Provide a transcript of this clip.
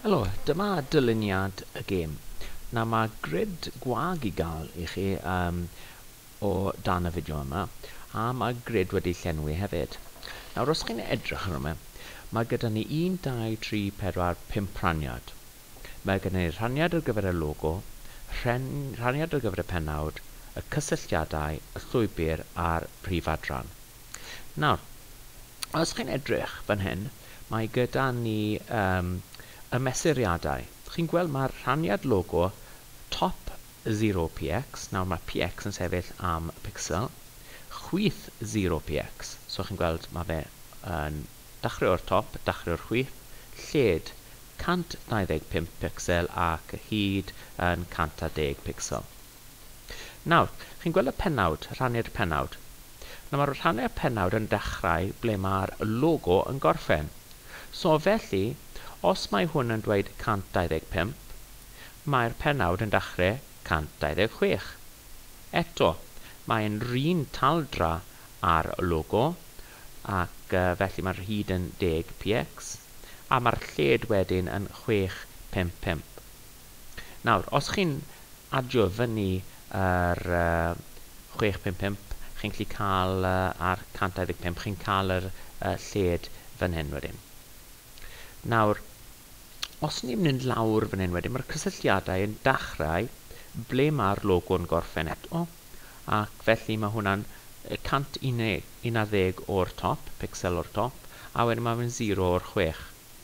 Helo, dyma dyluniad y gêm. Na, mae gred gwag i gael i chi um, o dan y fideo yma, a mae gred wedi llenwi hefyd. Nawr, os chi'n edrych ar yma, mae gyda ni 1, 2, 3, 4, 5 rhaniad. Mae gyda ni rhaniad ar gyfer y logo, rhaniad ar gyfer y penawd, y cysylltiadau, y llwybr a'r prif adran. Nawr, os chi'n edrych fan hyn, mae gyda ni um, y mesuriadau. Chi'n gweld mae'r rhaniad logo top 0px, nawr mae px yn sefyll am y pixel, chwith 0px, so chi'n gweld mae fe yn dachrau o'r top, dachrau o'r chwith, lled 125 pixel ac hyd yn 110 pixel. Nawr, chi'n gweld y pennawd, rhannu'r pennawd. Nawr, rhannu'r pennawd yn dechrau ble mae'r logo yn gorffen. So, felly, os mae hwn yn dweud 125, mae'r pennawd yn dechrau 126. Eto, mae'n run taldra â'r logo, ac felly mae'r hyd yn 10 px, a mae'r lled wedyn yn 655. Nawr, os chi'n adio fyny yr uh, 655, chi'n gallu cael uh, ar 125, chi'n cael yr uh, lled fan hyn wedyn. Nawr, os ni'n mynd lawr fan hyn wedyn, mae'r cysylltiadau yn dachrau ble mae'r logo'n gorffen eto, ac felly mae hwnna'n 111 o'r top, pixel o'r top, a wedyn mae'n 0 o'r 6.